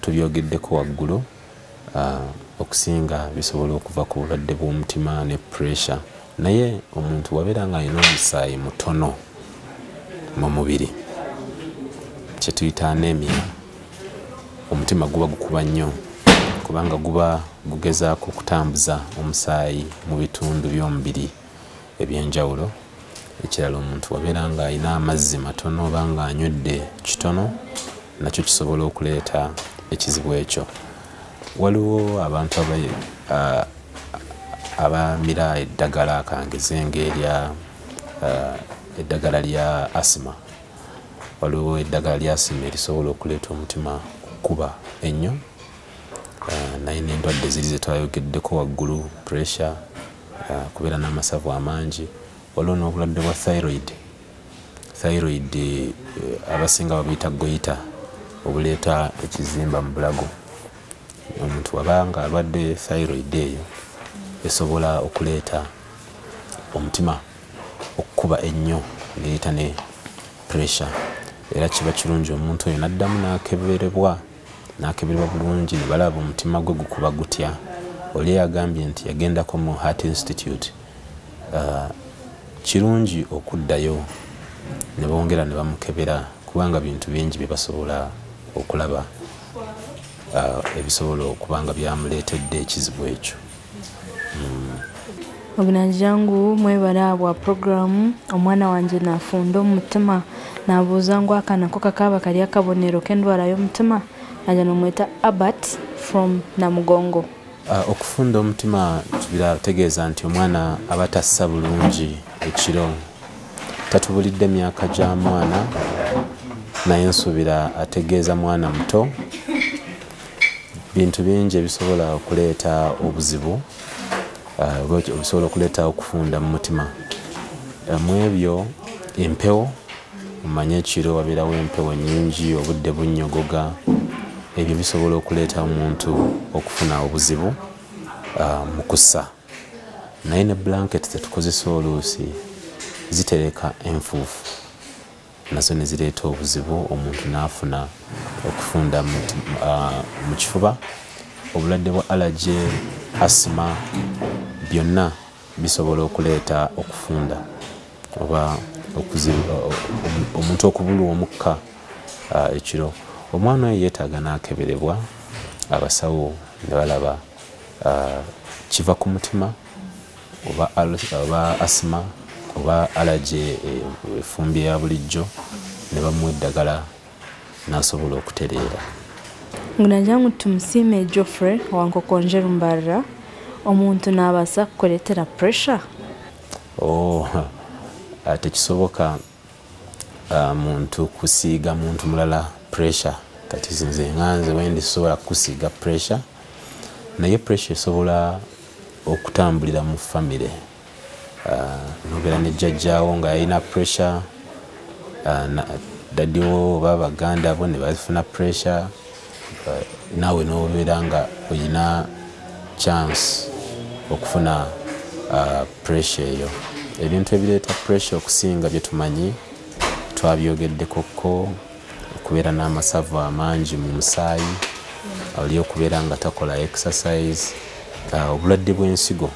Tubyogeddeko waggulu, okusinga bisobola okuva ku bulwadde bw'omutima ne puleesa naye omuntu wabeera ng'alina omusaayi mutono mu mubiri kye tuyita anemia, omutima guba gukuba nnyo kubanga guba gugezaako okutambuza omusaayi mu bitundu by'omubiri. ebyenjawulo ekirala omuntu wabeera nga alina amazzi matono oba nga anywedde kitono nakyo kisobola okuleeta ekizibu ekyo waliwo abantu abamira eddagala kangeze ngaerya eddagala lya asima waliwo eddagala lya asima erisobola okuleeta omutima kukuba ennyo naye nendwadde ziri zetwayogeddeko waggulu pressure kubeera n'amasavu amangi waliwo n'obulwadde bwa thyroid thyroid eh, abasinga babuyita goyita obuleeta ekizimba mu bulago omuntu waba nga alwadde thyroid eyo esobola okuleeta omutima okukuba ennyo neeta ne pressure era kiba kirungi omuntu oyo naddamu nakeberebwa n'akeberwa bulungi ne balaba omutima gwe gukuba gutya. Oli yagambye nti yagendako mu Heart Institute. Kirungi okuddayo ne bongera ne bamukebera kubanga bintu bingi bye basobola okulaba ebisobola okuba nga byamuleetedde ekizibu ekyo. obunanjangu mwebale abwa puroguramu omwana wange nafunda omutima nabuuza ngu akanako kakaaba kali akabonero k'endwala y'omutima naja nomweta abert from namugongo uh, okufunda omutima kibirategeeza nti omwana aba tassa bulungi ekiro tatubulidde myaka gya mwana naye nsuubira ategeeza mwana muto bintu bingi ebisobola okuleeta obuzibu ah, obisobola okuleeta okufunda mu mutima ah, mu ebyo empewo omanye ekiro wabeerawo empewo nyingi obudde bunyogoga ebyo bisobola okuleeta omuntu okufuna obuzibu ah, mu kussa naye ne blanket zetukozesa oluusi zitereka enfuufu nazo ne zireeta obuzibu omuntu n'afuna okufunda mu kifuba obulwadde bwa alaje asima byonna bisobola okuleeta okufunda oba omuntu okubulwa omukka ekiro omwana oyo yeetaaga n'akeberebwa abasawo ne balaba kiva ku mutima oba oba asima oba alaje eh, efumbi ya bulijjo ne bamuwa eddagala n'asobola okutereera ngunanjangu tumusiime geoffrey wankokonje lumbarra omuntu n'abaasa kukuleetera pressure oh, ah, tekisoboka uh, muntu kusiiga muntu mulala pressure kati nze nga nze wendi sobola kusiiga pressure naye pressure esobola okutambulira mu famire uh, nobeera ne jjajjaawo nga yalina pressure uh, dadiwo oba baganda bo ne bafuna pressure naawe n'obeera nga olina chance okufuna uh, pressure eyo ebintu ebireeta pressure okusinga bye tumanyi twabyogeddeko ko okubeera n'amasavu amangi mu musaayi oli okubeera nga takola exercise uh, obulwadde bw'ensigo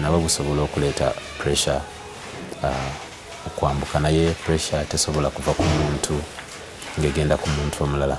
nabwo busobola okuleeta pressure uh, okwambuka naye pressure tesobola kuva ku muntu ng'egenda ku muntu omulala